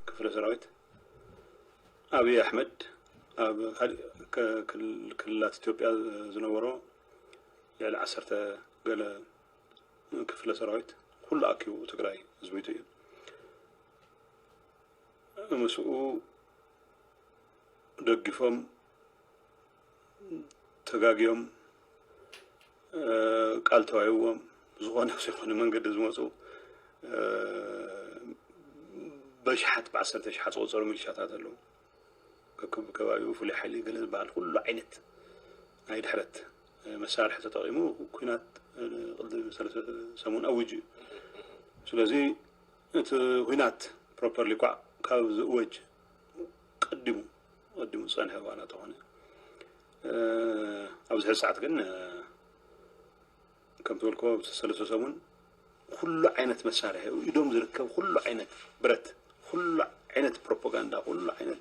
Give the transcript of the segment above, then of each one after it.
ክፍለሰራዊት ኣብይ ኣሕመድ ኣብ ካሊእ ክልላት ኢትዮጵያ ዝነበሮ ልዕሊ ዓሰርተ ገለ ክፍለ ሰራዊት ኩሉ ኣኪቡ ትግራይ ዝዊቱ እዩ ምስኡ ደጊፎም ተጋግዮም ቃል ተዋሂብዎም ዝኾነ ዝኾነ መንገዲ ዝመፁ በሽሓት ብዓሰርተ ሽሓት ዝቆፀሩ ሚሊሻታት ኣለዉ ከክብ ከባቢኡ ፍሉይ ሓይሊ ገለ ዝበሃል ኩሉ ዓይነት ናይ ድሕረት መሳርሒ ተጠቂሙ ኩናት ቅዲ ሰለስተ ሰሙን ኣውጅ እዩ ስለዚ እቲ ኩናት ፕሮፐርሊ ኳዕ ካብ ዝእወጅ ቀዲሙ ቀዲሙ ዝጸንሐ ዋላ ተኾነ ኣብዚ ሕዚ ሰዓት ግን ከምቲ በልኮ ሰለስተ ሰሙን ኩሉ ዓይነት መሳርሒ ኢዶም ዝርከብ ኩሉ ዓይነት ብረት ኩሉ ዓይነት ፕሮፓጋንዳ ኩሉ ዓይነት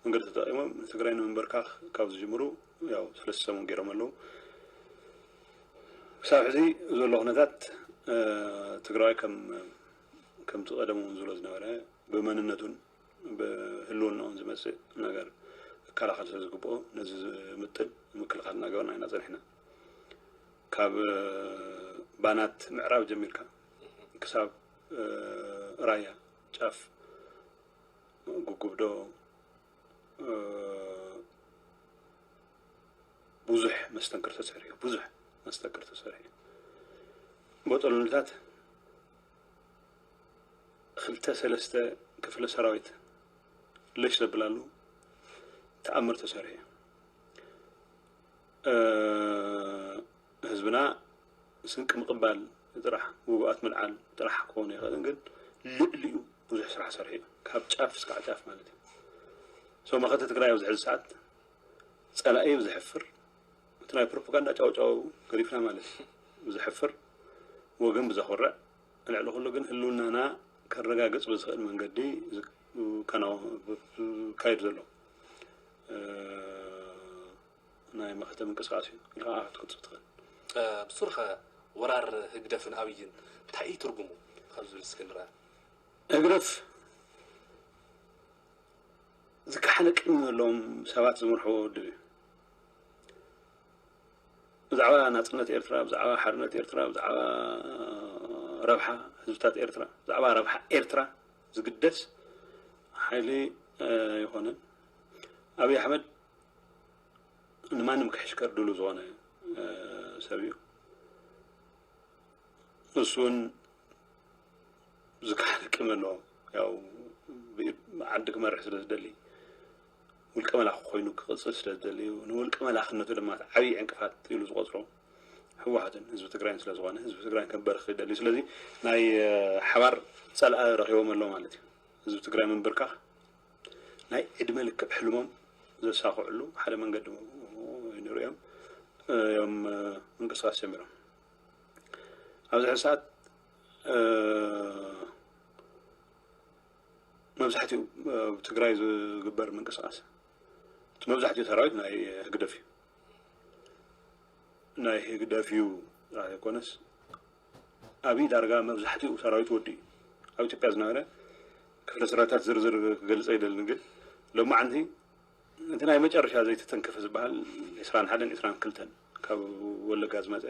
መንገዲ ተጠቂሞም ንትግራይ ንምንበርካኽ ካብ ዝጅምሩ ያው ሰለስተ ሰሙን ገይሮም ኣለዉ ክሳብ ሕዚ ዘሎ ኩነታት ትግራዋይ ከም ከምቲ ቀደሙ ዝብሎ ዝነበረ ብመንነቱን ብህልውንኦም ዝመፅእ ነገር ክከላኸል ስለዝግበኦ ነዚ ዝምጥን ምክልኻል እናገበርና ኢና ፀኒሕና። ካብ ባናት ምዕራብ ጀሚርካ ክሳብ ራያ ጫፍ ጉጉብዶ ብዙሕ መስተንክር ተሰሪሑ እዩ። ብዙሕ መስተንክር ተሰሪሑ እዩ። ቦጦሎንታት ክልተ ሰለስተ ክፍለ ሰራዊት ለሽ ዘብላሉ ተኣምር ተሰሪሑ እዩ። ህዝብና ስንቂ ምቕባል ጥራሕ ውጉኣት ምልዓል ጥራሕ ክኸውን ይኽእልን ግን ልዕሊኡ ብዙሕ ስራሕ ሰሪሑ እዩ። ካብ ጫፍ እስካዕ ጫፍ ማለት እዩ። ሰው መኸተ ትግራይ ኣብዚ ሕዚ ሰዓት ጸላኢ ብዘሕፍር እቲ ናይ ፕሮፓጋንዳ ጫውጫው ገዲፍና ማለት እዩ ብዘሕፍር ወገን ብዘኹርዕ ልዕሊ ኩሉ ግን ህልውናና ከረጋግፅ ብዝኽእል መንገዲ ዝካየድ ዘሎ ናይ መኸተ ምንቅስቃስ እዩ ኢልካ ከዓ ክትቅፅል ትኽእል። ብሱርኸ ወራር ህግደፍን ኣብይን እንታይ እዩ ትርጉሙ ካብ ዝብል እስኪ ንርኣ። ህግደፍ ዝከሓለ ቅድሚ ዘለዎም ሰባት ዝመርሕዎ ውድብ እዩ። ብዛዕባ ናጽነት ኤርትራ፣ ብዛዕባ ሓርነት ኤርትራ፣ ብዛዕባ ረብሓ ህዝብታት ኤርትራ፣ ብዛዕባ ረብሓ ኤርትራ ዝግደስ ሓይሊ ኣይኾነን። ኣብይ ኣሕመድ ንማንም ክሕሽከር ድሉ ዝኾነ ሰብ እዩ። ንሱ እውን ዝካሓደ ቅመ ኣሎ ያው ዓዲ ክመርሕ ስለ ዝደሊ ውልቀ መላኺ ኮይኑ ክቕፅል ስለ ዝደልዩ ንውልቀ መላኽነቱ ድማ እቲ ዓብዪ ዕንቅፋት ኢሉ ዝቖፅሮ ህወሓትን ህዝቢ ትግራይን ስለ ዝኾነ ህዝቢ ትግራይ ከበርኽ ይደልዩ ስለዚ ናይ ሓባር ፀላኢ ረኺቦም ኣሎ ማለት እዩ ህዝቢ ትግራይ ምንብርካኽ ናይ ዕድመ ልክዕ ሕልሞም ዘሳኽዕሉ ሓደ መንገዲ ንሪኦም እዮም ምንቅስቃስ ጀሚሮም ኣብዚ ሕዚ ሰዓት መብዛሕትኡ ኣብ ትግራይ ዝግበር ምንቅስቃስ እቲ መብዛሕትኡ ሰራዊት ናይ ህግደፍ እዩ ናይ ህግደፍ እዩ ጥራሕ ዘይኮነስ ኣብይ ዳርጋ መብዛሕትኡ ሰራዊት ወዲ እዩ ኣብ ኢትዮጵያ ዝነበረ ክፍለ ሰራዊታት ዝርዝር ክገልፀ ይደልን ግን ሎማዓንቲ እቲ ናይ መጨረሻ ዘይተተንከፈ ዝበሃል ዕስራን ሓደን ዕስራን ክልተን ካብ ወለጋ ዝመፀ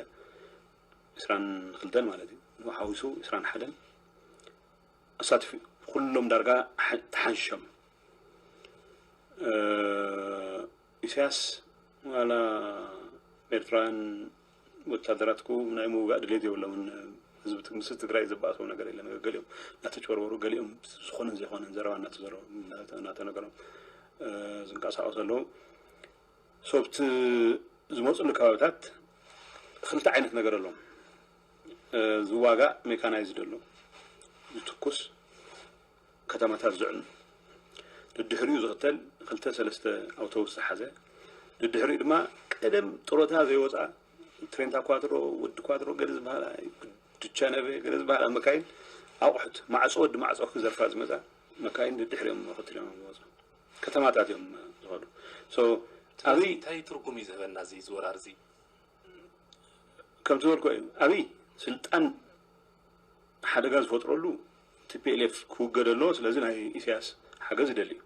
ዕስራን ክልተን ማለት እዩ ሓዊሱ ዕስራን ሓደን ኣሳትፊ ኩሎም ዳርጋ ተሓንሾም ኢሳያስ ዋላ ኤርትራውያን ወታደራትኩ ናይ ምውጋእ ድሌት የብሎምን ህዝቢ ምስ ትግራይ ዘባእሰው ነገር የለን ገሊኦም እናተጭበርበሩ ገሊኦም ዝኾነን ዘይኮነን ዘረባ እናተዘረቡ እናተነገሮም ዝንቀሳቀሱ ኣለዉ ሶብቲ ዝመፅሉ ከባቢታት ክልተ ዓይነት ነገር ኣለዎም ዝዋጋእ ሜካናይዝድ ኣሎ ዝትኩስ ከተማታት ዝዕኑ ድድሕሪኡ ዝኽተል ክልተ ሰለስተ ኣውቶቡስ ዝሓዘ ድድሕሪኡ ድማ ቀደም ጥሮታ ዘይወፃ ትሬንታ ኳትሮ ወዲ ኳትሮ ገለ ዝበሃላ ድቻነበ ገለ ዝበሃላ መካይን ኣቑሑት ማዕፆ ወዲ ማዕፆ ክዘርፋ ዝመፃ መካይን ድድሕሪኦም መኸትል እዮም ዝወፁ ከተማታት እዮም ዝኸዱ ኣብዚ እንታይ ትርጉም እዩ ዝህበና እዚ ዝወራር እዚ ከምቲ ዝበልኩ እዩ ኣብይ ስልጣን ሓደጋ ዝፈጥረሉ ቲፒኤልኤፍ ክውገደ ኣለዎ ስለዚ ናይ ኢሳያስ ሓገዝ ይደሊ እዩ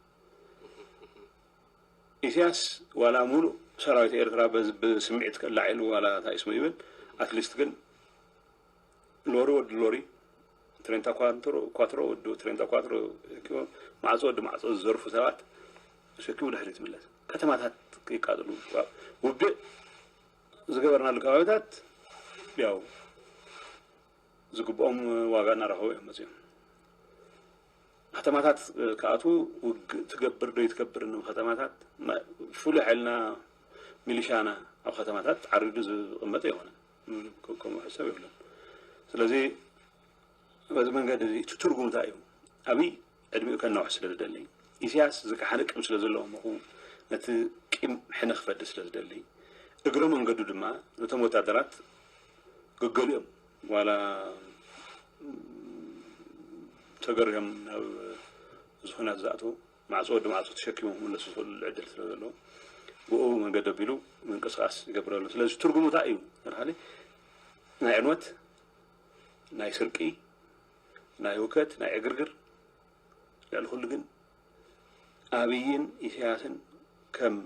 ኢሳያስ ዋላ ሙሉእ ሰራዊት ኤርትራ ብስምዒት ከላዒሉ ዋላ እንታይ ስሙ ይብል ኣትሊስት ግን ሎሪ ወዲ ሎሪ ትሬንታ ኳንትሮ ኳትሮ ወዲ ትሬንታ ኳትሮ ኪቦ ማዕጾ ወዲ ማዕጾ ዝዘርፉ ሰባት ሸኪሙ ድሕሪት ይምለስ ከተማታት ይቃጥሉ ውግእ ዝገበርናሉ ከባቢታት ያው ዝግብኦም ዋጋ እናረኸቡ እዮም መፅኦም ከተማታት ክኣትዉ ውግእ ትገብር ዶ ይትገብር ን ከተማታት ፍሉይ ሓይልና ሚሊሻና ኣብ ከተማታት ዓሪዱ ዝቕመጥ ኣይኮነን ክቆሙ ሕሰብ የብሎም ስለዚ በዚ መንገዲ እዚ እቲ ትርጉም እንታይ እዩ ኣብይ ዕድሚኡ ከናውሕ ስለ ዝደሊ ኢሳያስ ዝከሓነ ቅም ስለ ዘለዎ ምኹ ነቲ ቂም ሕነ ክፈዲ ስለ ዝደሊ እግረ መንገዱ ድማ ነቶም ወታደራት ግገሊኦም ዋላ ተገሪሆም ናብ ዝኹናት ዝኣተው ማዕፆ ወዲ ማዕፆ ተሸኪሞም ክምለሱ ዝኽእልሉ ዕድል ስለ ዘለዎ ብኡ መንገዲ ኣቢሉ ምንቅስቓስ ይገብር ኣሎ። ስለዚ ትርጉሙ እንታይ እዩ ተብሃለ ናይ ዕንወት፣ ናይ ስርቂ፣ ናይ ውከት፣ ናይ ዕግርግር ልዕሊ ኩሉ ግን ኣብይን ኢሳያስን ከም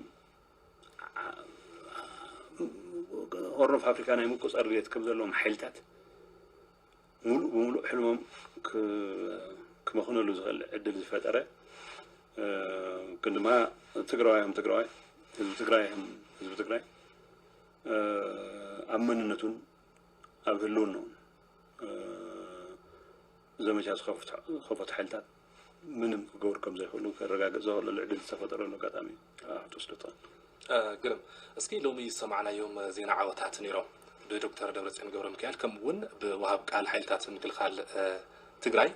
ሆርን ኦፍ ኣፍሪካ ናይ ምቁፅፃር ድሌት ከም ዘለዎም ሓይልታት ሙሉእ ብሙሉእ ሕልሞም ክመኽነሉ ዝኽእል ዕድል ዝፈጠረ ግን ድማ ትግራዋይም ትግራዋይ ህዝቢ ትግራይም ህዝቢ ትግራይ ኣብ መንነቱን ኣብ ህልውናኡን ዘመቻ ዝኸፈቱ ሓይልታት ምንም ክገብሩ ከም ዘይክእሉ ከረጋግጽ ዘኸእለሉ ዕድል ዝተፈጠረሉ ኣጋጣሚ እዩ ኣብ ትወስደቶ። ግርም እስኪ ሎሚ ዝሰማዕናዮም ዜና ዓወታት ነይሮም ብዶክተር ደብረጽዮን ገብረሚካኤል ከምኡ ውን ብወሃብ ቃል ሓይልታት ምክልኻል ትግራይ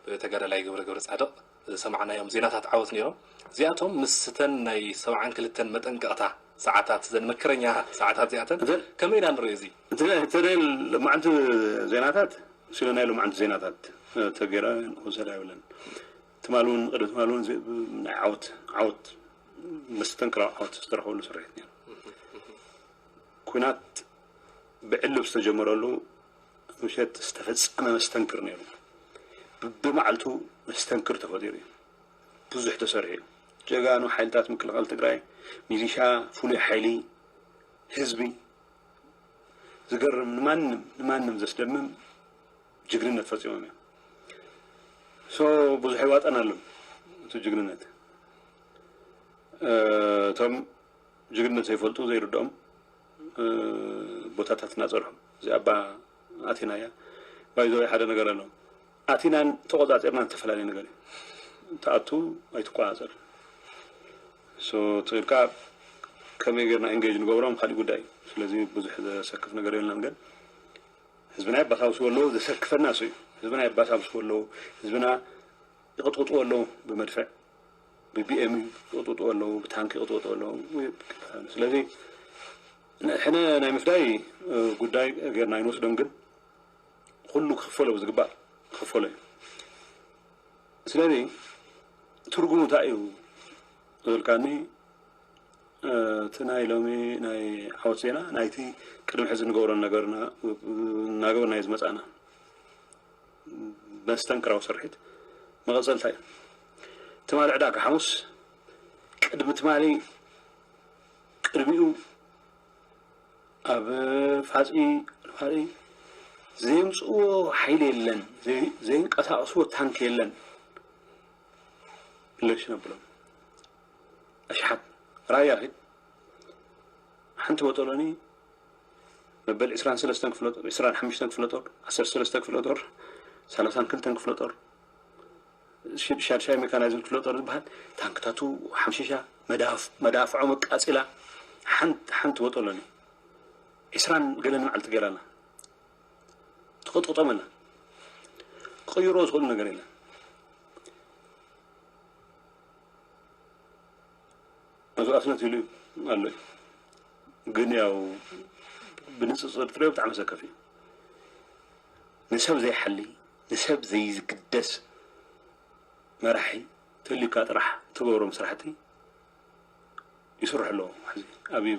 ብተጋዳላይ ገብረ ገብረጻድቕ ዝሰማዕናዮም ዜናታት ዓወት ነይሮም እዚኣቶም ምስተን ናይ ሰብዓን ክልተን መጠንቀቕታ ሰዓታት እዘን መከረኛ ሰዓታት እዚኣተን ከመይ ኢና ንሪኦ እዚ። እቲ ናይ ሎማዓንቲ ዜናታት ስለ ናይ ሎማዓንቲ ዜናታት ተገይረ ክውሰድ ኣይብለን ትማሊ ውን ቅድሚ ትማሊ ውን ናይ ዓወት ዓወት መስተንክራዊ ዓወት ዝተረኸበሉ ስርሒት ነይሩ ኩናት ብዕልብ ዝተጀመረሉ ምሸት ዝተፈጸመ መስተንክር ነይሩ ብብማዕልቱ መስተንክር ተፈጢሩ እዩ ብዙሕ ተሰሪሑ እዩ ጀጋኑ ሓይልታት ምክልኻል ትግራይ፣ ሚሊሻ፣ ፍሉይ ሓይሊ፣ ህዝቢ ዝገርም ንማንም ንማንም ዘስደምም ጅግንነት ፈፂሞም እዮም። ሶ ብዙሕ ይዋጠናሉን እቲ ጅግንነት እቶም ጅግንነት ዘይፈልጡ ዘይርድኦም ቦታታት እናፀንሑ እዚ ኣባ ኣቴናያ ባይዘወይ ሓደ ነገር ኣሎ ኣቲናን ተቆጻጺርናን እተፈላለየ ነገር እዩ ትኣቱ ኣይትቆጻጸር so ትኺልካ ከመይ ገርና engage ንገብሮም ካሊእ ጉዳይ እዩ ስለዚ ብዙሕ ዘሰክፍ ነገር የልናን ግን ህዝብና የባሳብስዎ ኣለዉ ዘሰክፈና እሱ እዩ ህዝብና የባሳብስዎ ኣለዉ ህዝብና ይቕጥቕጥዎ ኣለዉ ብመድፍዕ ብቢኤም ይቕጥቕጥዎ ኣለዉ ብታንኪ ይቕጥቕጥዎ ኣለዉ ስለዚ ሕነ ናይ ምፍዳይ ጉዳይ ጌርና ኣይንወስዶን ግን ኹሉ ክኽፈሎ ብዝግባእ ክኽፈሎ እዩ ስለዚ ትርጉሙ እንታይ እዩ ዝብልካኒ እቲ ናይ ሎሚ ናይ ዓወት ዜና ናይቲ ቅድሚ ሕዚ ንገብሮ ነገር እናገበርናዮ ዝመፃእና መስተንክራዊ ስርሒት መቐፀልታ እዩ ትማሊ ዕዳጋ ሓሙስ ቅድሚ ትማሊ ቅድሚኡ ኣብ ፋጽሚ ነዋሪ ዘየምጽእዎ ሓይሊ የለን፣ ዘየንቀሳቕስዎ ታንክ የለን ለሽ ነብሎም ኣሽሓት ራያ ኺድ ሓንቲ ቦጦሎኒ መበል ዕስራን ሰለስተን ክፍለ ጦር ዕስራን ሓሙሽተን ክፍለ ጦር ዓሰርተ ሰለስተ ክፍለ ጦር ሰላሳን ክልተን ክፍለ ጦር ሻድሻይ ሜካናይዝድ ክፍለ ጦር ዝበሃል ታንክታቱ ሓምሺሻ፣ መዳፍዖም ኣቃጺላ ሓንቲ ሓንቲ ወጠሎኒ ዕስራን ገለን መዓልቲ ገይራና ትቕጥቕጦም ኣላ። ክቕይሮ ዝኽእሉ ነገር የለን። መስዋእትነት ይሉ ኣሎ እዩ ግን ያው ብንፅፅር ትሪኦ ብጣዕሚ ሰከፍ እዩ ንሰብ ዘይሓሊ ንሰብ ዘይግደስ መራሒ ተልዩካ ጥራሕ እትገብሮም ስራሕቲ ይስርሑ ኣለዉ ሕዚ ኣብይ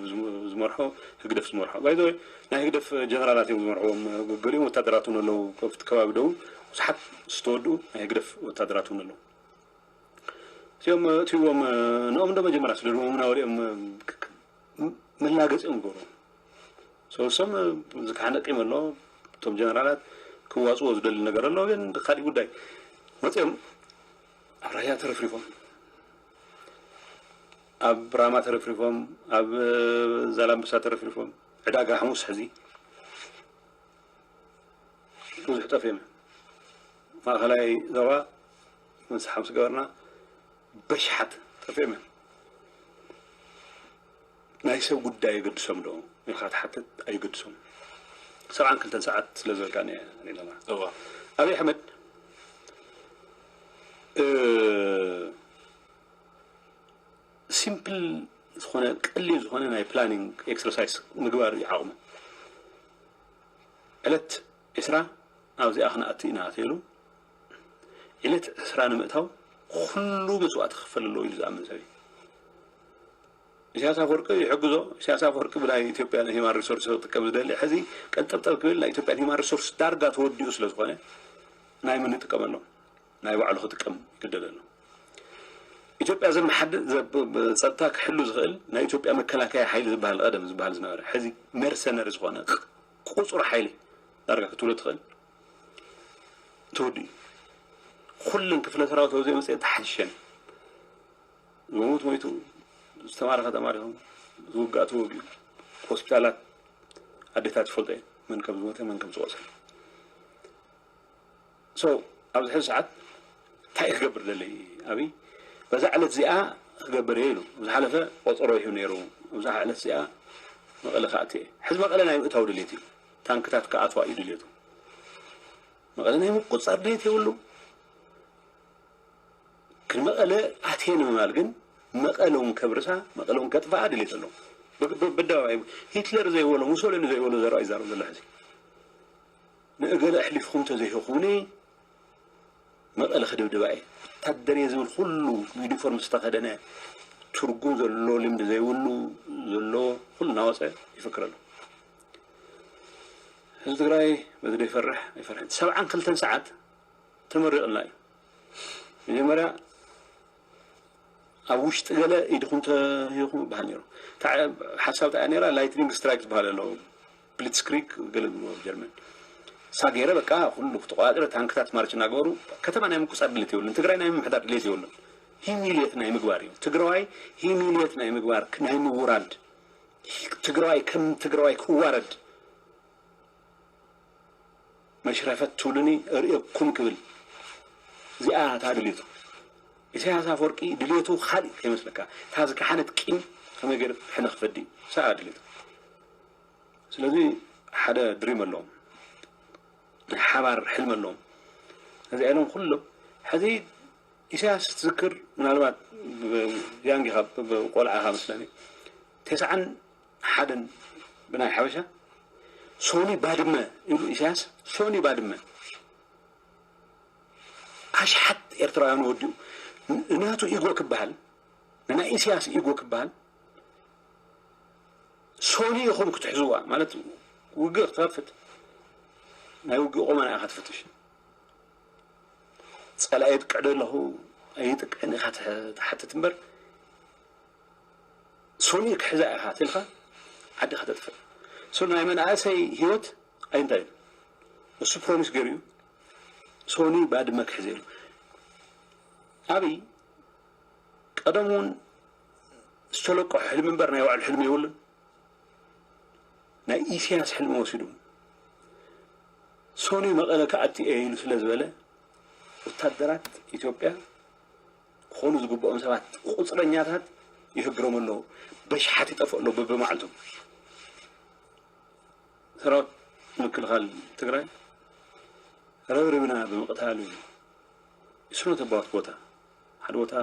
ዝመርሖ ህግደፍ ዝመርሖ ባይ ዘወይ ናይ ህግደፍ ጀነራላት እዮም ዝመርሕዎም ገሊኦም ወታደራት እውን ኣለዉ ከብቲ ከባቢ ደቡብ ብዙሓት ዝተወድኡ ናይ ህግደፍ ወታደራት እውን ኣለዉ እዚኦም እትዎም ንኦም ዶ መጀመርያ ስደድዎም ናበሊኦም መላገፂ እዮም ዝገብሩ ሰውሶም ዝካሓነ ቂም ኣሎ እቶም ጀነራላት ክዋፅዎ ዝደሊ ነገር ኣሎ ግን ካሊእ ጉዳይ መፅኦም ኣብ ራያ ተረፍሪፎም ኣብ ራማ ተረፍሪፎም ኣብ ዛላምበሳ ተረፍሪፎም ዕዳጋ ሓሙስ ሕዚ ብዙሕ ጠፍዮም ማእኸላይ ዞባ ምስ ሓምስ ገበርና በሻሓት ጠፊኦም እዮም ናይ ሰብ ጉዳይ የገድሶም ዶ ኢልካ ትሓትት ኣይገድሶም ሰብዓን ክልተን ሰዓት ስለ ዘርጋን ሪኢናና ኣብይ ኣሕመድ ሲምፕል ዝኾነ ቀሊል ዝኾነ ናይ ፕላኒንግ ኤክሰርሳይስ ምግባር እዩ ዓቕሙ ዕለት ዕስራ ኣብዚኣ ክንኣቲ ኢና ተይሉ ዕለት ዕስራ ንምእታው ኩሉ መስዋእቲ ክኽፈል ኣለዎ ኢሉ ዝኣምን ሰብ እዩ። ኢሳያስ ኣፈወርቂ ይሕግዞ። ኢሳያስ ኣፈወርቂ ብናይ ኢትዮጵያ ሂማን ሪሶርስ ክጥቀም ዝደሊ ሕዚ ቀንጠብጠብ ክብል ናይ ኢትዮጵያን ሂማን ሪሶርስ ዳርጋ ተወዲኡ ስለ ዝኾነ ናይ መን ይጥቀመሎም ናይ ባዕሉ ክጥቀም ይግደድ ኣሎ። ኢትዮጵያ ዘመሓድር ጸጥታ ክሕሉ ዝኽእል ናይ ኢትዮጵያ መከላከያ ሓይሊ ዝበሃል ቀደም ዝበሃል ዝነበረ ሕዚ መርሰነሪ ዝኾነ ቁጹር ሓይሊ ዳርጋ ክትብሎ ትኽእል ትውዲ ኩለን ክፍለ ሰራዊት ኣብዘይ መፅኤን ተሓይሸን ዝሞት ሞይቱ ዝተማረኸ ተማሪኹ ዝውጋእ ተወጊኡ ሆስፒታላት ኣዴታት ይፈልጦ እየን መን ከም ዝሞተ መን ከም ዝቆሰለ ሶ ኣብዚ ሕዚ ሰዓት እንታይ እዩ ክገብር ደሊ ኣብይ በዛ ዕለት እዚኣ ክገብር እየ ኢሉ ኣብ ዝሓለፈ ቆፀሮ ይህብ ነይሩ ኣብዛ ዕለት እዚኣ መቐለ ክኣቲ እየ ሕዚ መቐለ ናይ ምእታው ድሌት እዩ ታንክታት ክኣትዋ እዩ ድልየቱ። መቐለ ናይ ምቁፅፃር ድሌት የብሉ። ንመቐለ ኣትየ ንምባል ግን መቐለ እውን ከብርሳ መቐለ እውን ከጥፍኣ ድሌት ኣለዎም። በደባባይ ሂትለር ዘይበሎ ሙሶሎኒ ዘይበሎ ዘረባ ይዛረብ ዘሎ ሕዚ ንእገለ ኣሕሊፍኹም እንተዘይህኹምኒ መቐለ ክድብድባ እየ ወታደር እየ ዝብል ኩሉ ዩኒፎርም ዝተኸደነ ትርጉም ዘሎ ልምዲ ዘይብሉ ዘለዎ ኩሉ እናወፀ ይፍክር ኣሎ። ህዝቢ ትግራይ በዚ ዶ ይፈርሕ ኣይፈርሕን ሰብዓን ክልተን ሰዓት ተመሪቕልና እዩ መጀመርያ ኣብ ውሽጢ ገለ ኢድኹም ተሂኹም ይበሃል ነይሩ ሓሳብ እንታይ ነራ ላይትኒንግ ስትራይክ ዝበሃል ኣሎ ብሊትስክሪግ ገለ ዝብልዎ ኣብ ጀርመን እሳ ገይረ በቃ ኩሉ ተቆፃፅረ ታንክታት ማርች እናገበሩ ከተማ ናይ ምቁፃር ድሌት የብሉን ትግራይ ናይ ምምሕዳር ድሌት የብሉን ሂሚልየት ናይ ምግባር እዩ ትግራዋይ ሂሚልየት ናይ ምግባር ናይ ምውራድ ትግራዋይ ከም ትግራዋይ ክዋረድ መሽረፈት ትብሉኒ እርእየኩም ክብል እዚኣ እታ ድልየቱ ኢሳያስ ኣፈወርቂ ድልየቱ ካልእ ከይመስለካ እታ ዝከሓደት ቂም ከመይ ገይሩ ሕነ ክፈዲ ሰኣ ድልየቱ ስለዚ ሓደ ድሪም ኣለዎም ናይ ሓባር ሕልሚ ኣለዎም ነዚ ኢሎም ኩሎም ሕዚ ኢሳያስ ትዝክር ምናልባት ያንግ ኢኻ ቆልዓ ኢኻ መስለኒ ተስዓን ሓደን ብናይ ሓበሻ ሶኒ ባድመ ኢሉ ኢሳያስ ሶኒ ባድመ ኣሽሓት ኤርትራውያን ወዲኡ ንናቱ ኢጎ ክበሃል ንናይ ኢሳያስ ኢጎ ክበሃል ሶኒ ኢኹም ክትሕዝዋ ማለት ውግእ ክትኸፍት ናይ ውግእ ቆመና ኢኻ ትፍትሽ ጸላኢ የጥቅዕ ዶ ኣለኹ ኣይጥቅዕን ኢኻ ትሓትት እምበር ሶኒ ክሕዛ ኢኻ ትልካ ዓዲ ከተጥፍእ ሶ ናይ መናእሰይ ህይወት ኣይንታይ እሱ ፕሮሚስ ገይሩ እዩ ሶኒ ባድመ ክሕዘ ኢሉ ኣብይ ቀደም እውን ዝተለቆ ሕልሚ እምበር ናይ ባዕሉ ሕልሚ የብሉን ናይ ኢሰያስ ሕልሚ ወሲዱ ሰኑይ መቐለ ክኣቲ እየ ኢሉ ስለ ዝበለ ወታደራት ኢትዮጵያ ክኾኑ ዝግብኦም ሰባት ቁፅረኛታት ይህግሮም ኣለዉ። በሽሓት ይጠፍኡ ኣለዉ በብመዓልቱ። ሰራዊት ምክልኻል ትግራይ ረብርብና ብምቕታሉ እዩ ስኖት ኣባውት ቦታ ሓደ ቦታ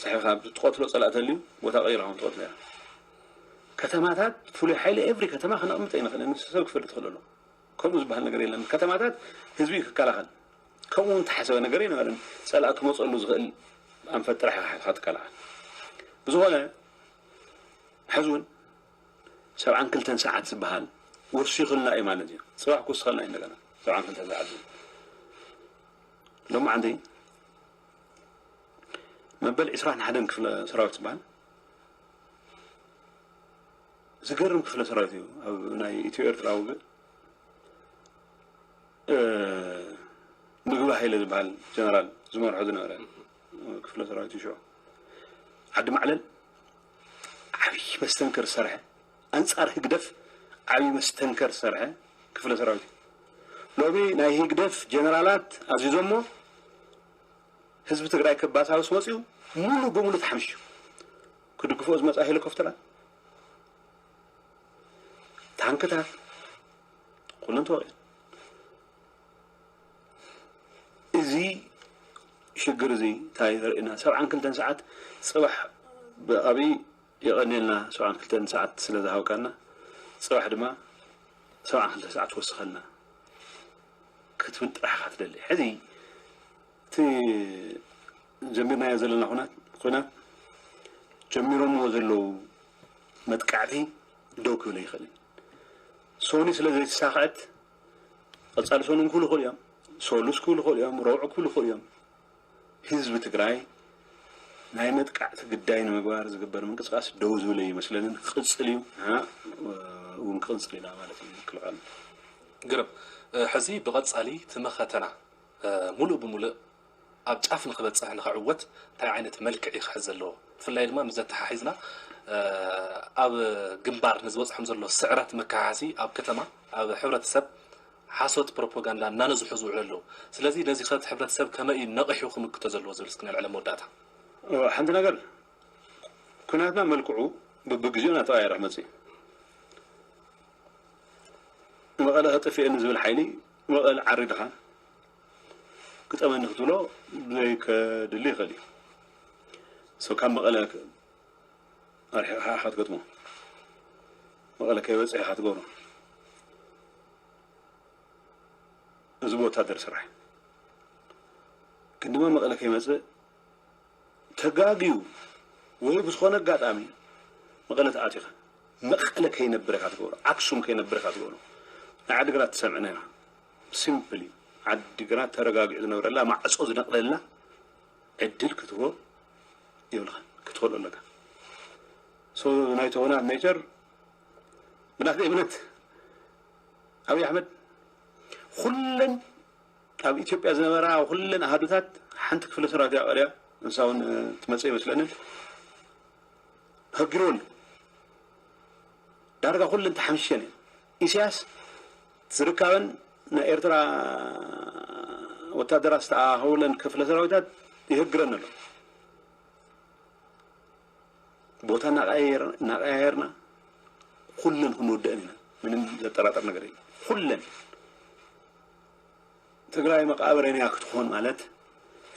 ሰሒኻ ኣብ ትቐትሎ ጸላኢ ተልዩ ቦታ ቀይርካ ውን ትቐትሎ ኢኻ። ከተማታት ፍሉይ ሓይሊ ኤቭሪ ከተማ ከነቕምጥ ኣይንኽእልን። ንሱ ሰብ ክፈልጥ ክእል ኣለዎ። ከምኡ ዝበሃል ነገር የለን። ከተማታት ህዝቢ እዩ ክከላኸል። ከምኡ ውን ተሓሰበ ነገር ኣይነበረን። ጸላኢ ክመጸሉ ዝኽእል ኣንፈት ጥራሕ ኢኻ ሓትኻ ትከላኸል። ብዝኾነ ሕዚ ውን ሰብዓን ክልተን ሰዓት ዝበሃል ወሲኹልና እዩ ማለት እዩ። ጽባሕ ክውስኸልና እዩ እንደገና ሰብዓን ክልተን ሰዓት ዝብል ሎማዓንቲ መበል ዕስራን ሓደን ክፍለ ሰራዊት ዝበሃል ዝገርም ክፍለ ሰራዊት እዩ ኣብ ናይ ኢትዮ ኤርትራ ውግእ ምግቢ ሃይለ ዝበሃል ጀነራል ዝመርሖ ዝነበረ ክፍለ ሰራዊት እዩ ሽዑ ዓዲ ማዕለል ዓብዪ መስተንክር ዝሰርሐ ኣንጻር ህግደፍ ዓቢ መስተንከር ዝሰርሐ ክፍለ ሰራዊት እዩ። ሎሚ ናይ ህግደፍ ጀነራላት ኣዚዞሞ ህዝቢ ትግራይ ከባሳብስ ወጺኡ ሙሉ ብሙሉ ተሓምሺሹ። ክድግፎ ዝመጻ ሄሊኮፕተራት፣ ታንክታት ኩለን ተወቂዐን። እዚ ሽግር እዚ እንታይ ዘርእየና ሰብዓን ክልተን ሰዓት ጽባሕ ብኣብይ የቐንየልና ሰብዓን ክልተን ሰዓት ስለ ዝሃብካና ጽባሕ ድማ ሰብዓን ክልተ ሰዓት ወስኸልና ክትብል ጥራሕ ኢኻ ትደሊ ሕዚ እቲ ጀሚርናዮ ዘለና ኩናት ኩናት ጀሚሮምዎ ዘለዉ መጥቃዕቲ ደው ክብል ኣይኽእልን ሶኒ ስለ ዘይተሳኽዐት ቐጻሊ ሶኒ ክብሉ ይኽእሉ እዮም ሶሉስ ክብሉ ይኽእሉ እዮም ረቡዕ ክብሉ ይኽእሉ እዮም ህዝቢ ትግራይ ናይ መጥቃዕቲ ግዳይ ንምግባር ዝግበር ምንቅስቃስ ደው ዝብል ኣይመስለንን ክቕፅል እዩ ንሕና እውን ክቕንፅል ኢና ማለት እዩ ምክልኻል ግርም ሕዚ ብቐፃሊ ትምኸተና ሙሉእ ብሙልእ ኣብ ጫፍ ንክበፅሕ ንክዕወት እንታይ ዓይነት መልክዕ እዩ ክሕዝ ዘለዎ ብፍላይ ድማ ምስዚ ኣተሓሒዝና ኣብ ግንባር ንዝበፅሖም ዘሎ ስዕረት መከሓሓሲ ኣብ ከተማ ኣብ ሕብረተሰብ ሓሶት ፕሮፖጋንዳ እናነዝሑ ዝውዕሉ ኣለው። ስለዚ ነዚ ከ እቲ ሕብረተሰብ ከመይ እዩ ነቒሑ ክምክቶ ዘለዎ ዝብል እስኪ ነልዕል ኣብ መወዳእታ። ሓንቲ ነገር ኩናትና መልክዑ በብግዚኡ እናተቐያየረ ክመፅእ እዩ። መቐለ ከጥፍኤኒ ዝብል ሓይሊ መቐለ ዓሪድኻ ግጠመኒ ክትብሎ ዘይከድሊ ይኽእል እዩ። ካብ መቐለ ኣርሒቕካ ኢኻ ትገጥሞ መቐለ ከይበጽሐ ኢኻ ትገብሮ እዚ ብወታደር ስራሕ ግን ድማ መቐለ ከይመጽእ ተጋግዩ ወይ ብዝኾነ ኣጋጣሚ መቐለ ተኣቲኻ መቐለ ከይነብር ኢኻ ትገብሮ ኣክሱም ከይነብር ኢኻ ትገብሮ ናይ ዓዲግራት ትሰምዕና ኢና ሲምፕሊ ዓዲግራት ተረጋጊዑ ዝነብረላ ማዕጾ ዝነቕለላ ዕድል ክትህቦ የብልኻን ክትኸልኦ ኣለካ ሶ ናይ ቶና ሜጀር ብናተይ እምነት ኣብይ ኣሕመድ ኩለን ኣብ ኢትዮጵያ ዝነበራ ኩለን ኣሃዱታት ሓንቲ ክፍለ ሰራዊት እያ ቀሪያ ንሳ እውን ትመፅእ ይመስለንን ተፈጊርዎ ኣሎ ዳርጋ ኩለን ተሓምሽሸን እየን ኢሲያስ ዝርካበን ናይ ኤርትራ ወታደራት ዝተኣኻኸቡለን ክፍለ ሰራዊታት ይህግረን ኣሎ። ቦታ እናቀያየርና ኩለን ክንወደአን ኢና። ምንም ዘጠራጠር ነገር የለን። ኩለን ትግራይ መቃብረን እያ ክትኾን ማለት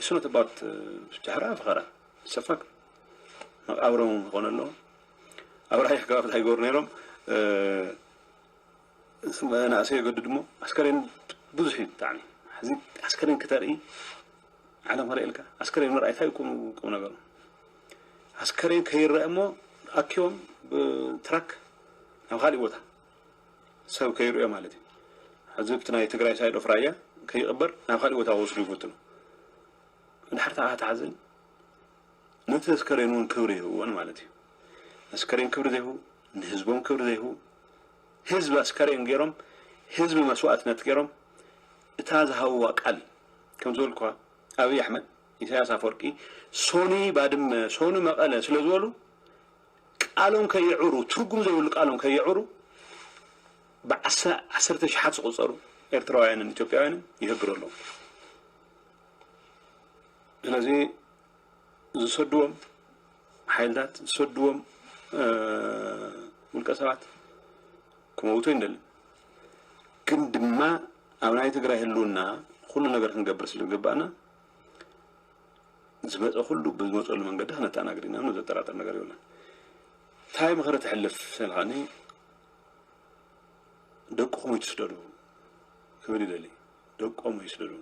እሱ ኖት ኣባውት ጃህራ ፈኸራ ሰፋክ መቃብሮም ክኾን ኣለዎ። ኣብ ራሕሪሕ ገባ ፍትሓ ይገብሩ ነይሮም መናእሰይ የገድድ እሞ ኣስከሬን ብዙሕ እዩ ብጣዕሚ ሕዚ ኣስከሬን ክተርኢ ዓለም ክርእየልካ ኣስከሬን ምርኣይ እንታይ ቁም ቁም ነገሩ ኣስከሬን ከይረአ እሞ ኣኪቦም ብትራክ ናብ ካሊእ ቦታ ሰብ ከይርእዮ ማለት እዩ ሕዚ ብቲ ናይ ትግራይ ሳይድ ኦፍ ራያ ከይቕበር ናብ ካሊእ ቦታ ክወስዱ ይፈትኑ እንድሕር ተሓዝን ነቲ ኣስከሬን እውን ክብሪ ኣይህብዎን ማለት እዩ። ነስከሬን ክብሪ ዘይህቡ፣ ንህዝቦም ክብሪ ዘይህቡ፣ ህዝቢ ኣስከሬን ገይሮም፣ ህዝቢ መስዋእትነት ገይሮም፣ እታ ዝሃብዋ ቃል ከም ዝበልኩኻ ኣብይ ኣሕመድ፣ ኢሳያስ ኣፈወርቂ ሶኒ ባድመ፣ ሶኒ መቐለ ስለ ዝበሉ ቃሎም ከየዕሩ፣ ትርጉም ዘይብሉ ቃሎም ከየዕሩ ብዓሳ ዓሰርተ ሽሓት ዝቑፀሩ ኤርትራውያንን ኢትዮጵያውያንን ይህግሩ ኣለዉ። ስለዚ ዝሰድዎም ሓይልታት ዝሰድዎም ውልቀ ሰባት ክመውቱ ኣይንደልን። ግን ድማ ኣብ ናይ ትግራይ ህልውና ኩሉ ነገር ክንገብር ስለ ዝግባእና ዝመፀ ኩሉ ብዝመፀሉ መንገዲ ክነተኣናግድ ኢና ምንም ዘጠራጥር ነገር የብለን። እንታይ ምኽሪ ተሕልፍ ስልካኒ ደቅኹም ይትስደዱ ክብል ይደሊ ደቆም ይስእሉ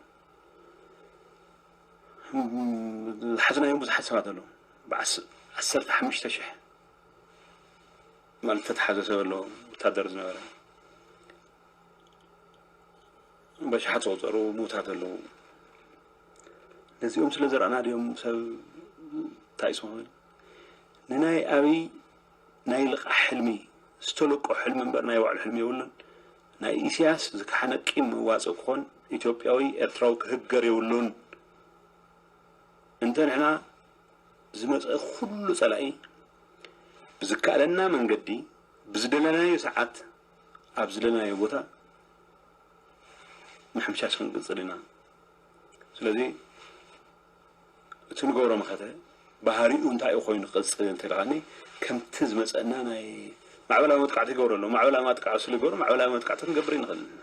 ዝሓዝናዮም ብዙሓት ሰባት ኣለዉ ዓሰርተ ሓሙሽተ ሽሕ ማለት ተተሓዘ ሰብ ኣለዎ ወታደር ዝነበረ በሽሓት ዝቆፀሩ ምዉታት ኣለዉ ነዚኦም ስለ ዘረኣና ድዮም ሰብ እንታይ ስኹን ንናይ ኣብይ ናይ ልቓሕ ሕልሚ ዝተልቆ ሕልሚ እምበር ናይ ባዕሉ ሕልሚ የብሉን። ናይ ኢሰያስ ዝከሓነ ቂም መዋጽእ ክኾን ኢትዮጵያዊ ኤርትራዊ ክህገር የብሉን። እንተ ንሕና ዝመጸ ኩሉ ጸላኢ ብዝከኣለና መንገዲ ብዝደለናዮ ሰዓት ኣብ ዝደለናዮ ቦታ ምሕምሻሽ ክንቅጽል ኢና። ስለዚ እቲ ንገብሮ መኸተ ባህሪኡ እንታይ እዩ ኮይኑ ክቕፅል እንተ ኢልካኒ ከምቲ ዝመፀና ናይ ማዕበላዊ መጥቃዕቲ ይገብሩ ኣለዉ ማዕበላዊ ማጥቃዕ ስሉ ይገብሩ ማዕበላዊ መጥቃዕቲ ክንገብር ይንኽእል ኣለና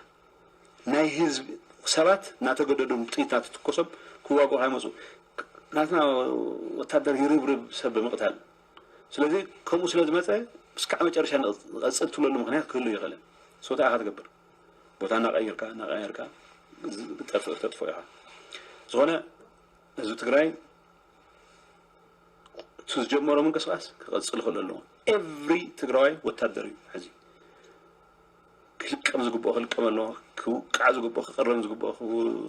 ናይ ህዝብ ሰባት እናተገደዱ ጥይት እናተትኮሶም ክዋግኡ ካይመፁ ናትና ወታደር ይርብርብ ሰብ ብምቕታል ስለዚ ከምኡ ስለ ዝመፀ እስካዕ መጨረሻ ንቐፅል ትብለሉ ምክንያት ክህሉ ይኽእልን ስወታ ኢኻ ትገብር ቦታ ናቀይርካ ናቀያርካ ጠፍእ ክተጥፍኦ ኢኻ ዝኾነ ህዝቢ ትግራይ እቲ ዝጀመሮ ምንቅስቃስ ክቐፅል ክእል ኣለዎ ኤቭሪ ትግራዋይ ወታደር እዩ ሕዚ ክልቀም ዝግብኦ ክልቀም ኣለዎ ክውቃዕ ዝግብኦ ክቅረም ዝግብኦ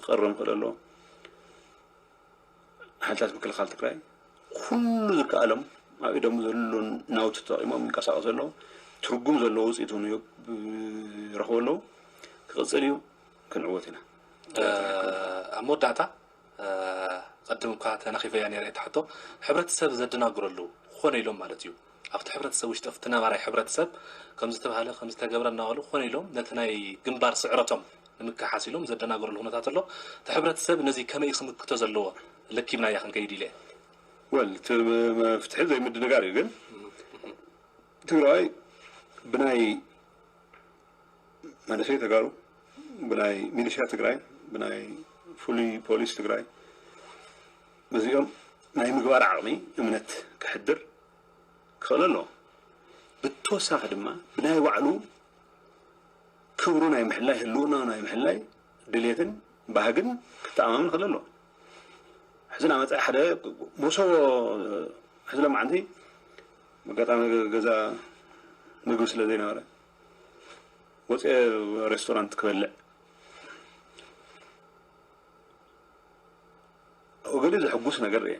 ክቅረም ክእል ኣለዎ ሓይልታት ምክልኻል ትግራይ ኩሉ ዝከኣሎም ኣብ ኢዶም ዘሎ ናውቲ ተጠቂሞም ይንቀሳቀሱ ኣለዉ ትርጉም ዘለዎ ውፅኢት እውን ይረኽቡ ኣለዉ ክቕፅል እዩ ክንዕወት ኢና ኣብ መወዳእታ ቅድም እኳ ተናኺፈያ ነይረ እታ ሕቶ ሕብረተሰብ ዘደናግረሉ ክኾነ ኢሎም ማለት እዩ ኣብቲ ሕብረተሰብ ውሽጢ እቲ ነባራይ ሕብረተሰብ ከምዝተብሃለ ከምዝተገብረ እናበሉ ኮነ ኢሎም ነቲ ናይ ግንባር ስዕረቶም ንምክሓስ ኢሎም ዘደናግርሉ ኩነታት ኣሎ። እቲ ሕብረተሰብ ነዚ ከመይ እዩ ክምክቶ ዘለዎ ለኪብናያ ክንከይድ ኢለ። Well እቲ መፍትሒ ዘይምድንጋር እዩ ግን ትግራዋይ ብናይ መንእሰይ ተጋሩ ብናይ ሚሊሻ ትግራይ ብናይ ፍሉይ ፖሊስ ትግራይ በዚኦም ናይ ምግባር ዓቕሚ እምነት ከሕድር ክኽእል ኣለዎ። ብተወሳኺ ድማ ብናይ ባዕሉ ክብሩ ናይ ምሕላይ ህልውናኡ ናይ ምሕላይ ድሌትን ባህግን ክተኣማመን ክኽእል ኣለዎ። ሕዚ ናብ መፃኢ ሓደ መሶቦ ሕዚ ለማዓንቲ ኣጋጣሚ ገዛ ምግቢ ስለ ዘይነበረ ወፅኤ ሬስቶራንት ክበልዕ ኣብኡ ገለ ዘሕጉስ ነገር ርኤ።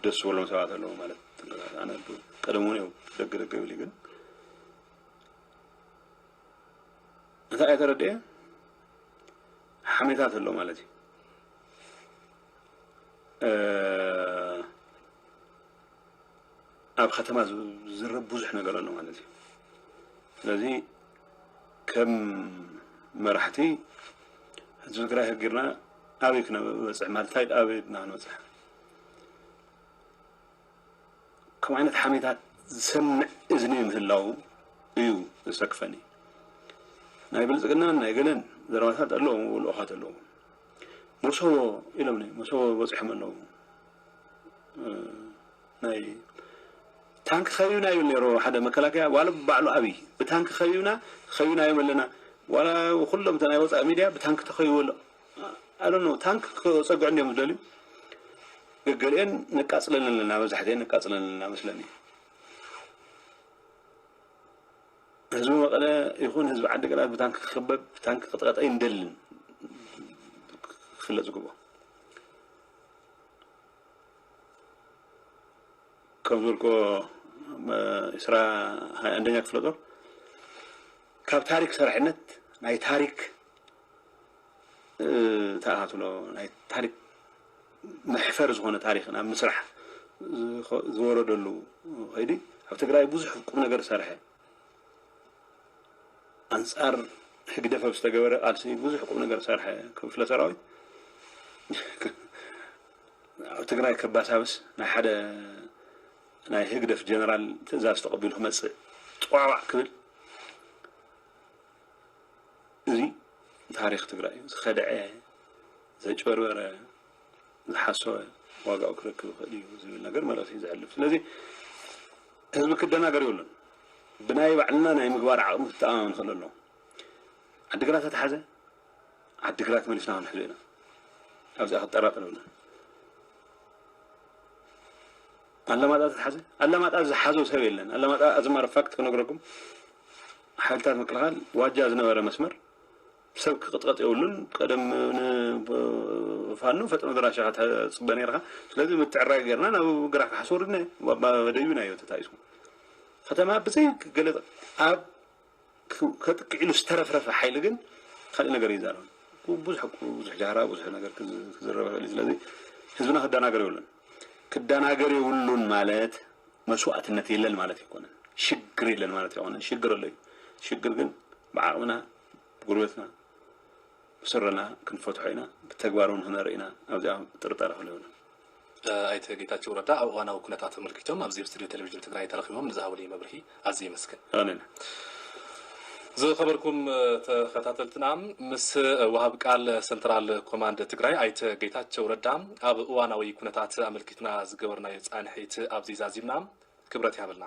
ደስ ዝበሎም ሰባት ኣለዉ ማለት ኣነ ቀደም እውን ደገ ደገ ብል ግን እንታይ እየ ተረድኤ ሓሜታት ኣሎ ማለት እዩ። ኣብ ከተማ ዝዝረብ ብዙሕ ነገር ኣሎ ማለት እዩ። ስለዚ ከም መራሕቲ ህዝቢ ትግራይ ህጊርና ኣበይ ክነበፅሕ ማለት እንታይ ኣበይ ድና ክንበፅሕ ከም ዓይነት ሓሜታት ዝሰምዕ እዝኒ ምህላው እዩ ዘሰክፈኒ። ናይ ብልፅግናን ናይ ገለን ዘረባታት ኣለዎም ልኡኻት ኣለዎም መሰቦ ኢሎም መሰቦ በፂሖም ኣለዉ ናይ ታንክ ከቢብና ይብል ነይሩ ሓደ መከላከያ ዋላ ባዕሉ ኣብይ ብታንክ ከቢብና ከቢብናዮም ኣለና ዋላ ኩሎም ናይ ወፃኢ ሚድያ ብታንክ ተኸቢቡ ኣሎ ኣዶ ነው ታንክ ክፀግዑ እንዲዮም ዝደልዩ ገገሊአን ነቃፅለን ኣለና መብዛሕትአን ነቃፅለን ኣለና መስለኒ ህዝቢ መቐለ ይኹን ህዝቢ ዓዲ ግራት ብታንክ ክኽበብ ብታንክ ክጥቀጠ ይንደልን ክፍለጥ ዝግብኦ ከም ዝበልክዎ ኢስራ ሃያ ኣንደኛ ክፍለ ጦር ካብ ታሪክ ሰራሒነት ናይ ታሪክ ተኣካትሎ ናይ ታሪክ መሕፈር ዝኾነ ታሪክ ናብ ምስራሕ ዝወረደሉ ከይዲ ኣብ ትግራይ ብዙሕ ቁም ነገር ዝሰርሐ ኣንጻር ህግደፍ ኣብ ዝተገበረ ቃልሲ ብዙሕ ቁም ነገር ዝሰርሐ ክፍለ ሰራዊት ኣብ ትግራይ ከባሳብስ ናይ ሓደ ናይ ህግደፍ ጀነራል ትእዛዝ ተቐቢሉ ክመጽእ ጥዋዕዋዕ ክብል እዚ ታሪክ ትግራይ እዩ ዝኸደዐ ዘጭበርበረ ዝሓሰወ ዋጋኡ ክረክብ ይኽእል እዩ ዝብል ነገር መልእኽቲ እዩ ዘሕልፍ። ስለዚ ህዝቢ ክደናገር የብሉን። ብናይ ባዕልና ናይ ምግባር ዓቕሚ ክተኣማመን ክእል ኣለዎ። ዓዲግራት ተተሓዘ ዓዲግራት መሊስና ክንሕዞ ኢና። ኣብዚኣ ክጠራጠር የብሉን። ኣለማጣ ተተሓዘ ኣለማጣ ዝሓዞ ሰብ የለን። ኣለማጣ ኣዝማር ፋክት ክነግረኩም ሓይልታት ምክልኻል ዋጃ ዝነበረ መስመር ሰብ ክቅጥቀጥ የብሉን ቀደም ን ፋኖ ፈጥኖ ደራሽ ኢኻ ትጽበ ነርካ ስለዚ ምትዕራይ ገርና ናብ ግራሕ ካሕስ ወርድና ደዩናዮ ተታይሱ ከተማ ብዘይ ገለ ኣብ ከጥቅዕ ኢሉ ዝተረፍረፈ ሓይሊ ግን ካልእ ነገር ይዛረብ ብዙሕ ብዙሕ ጃህራ ብዙሕ ነገር ክዝረብ ይኽእል እዩ ስለዚ ህዝብና ክደናገር የብሉን ክደናገር የብሉን ማለት መስዋእትነት የለን ማለት ኣይኮነን ሽግር የለን ማለት ኣይኮነን ሽግር ኣሎ እዩ ሽግር ግን ብዓቕምና ጉርበትና ብስረና ክንፈትሖ ኢና ብተግባር ውን ክነርኢ ኢና ኣብዚኣ ጥርጣረ ክህሉ የብሉን። ኣይተ ጌታቸው ረዳ ኣብ እዋናዊ ኩነታት ኣመልኪቶም ኣብዚ ኣብ ስቱድዮ ቴሌቪዥን ትግራይ ተረኺቦም ንዝሃቡኒ መብርሂ ኣዝየ የመስግን። ኣሜን። ዝኸበርኩም ተኸታተልትና ምስ ወሃብ ቃል ሰንትራል ኮማንድ ትግራይ ኣይተ ጌታቸው ረዳ ኣብ እዋናዊ ኩነታት ኣመልኪትና ዝገበርናዮ ፃንሒት ኣብዚ ዛዚምና። ክብረት ይሃበልና።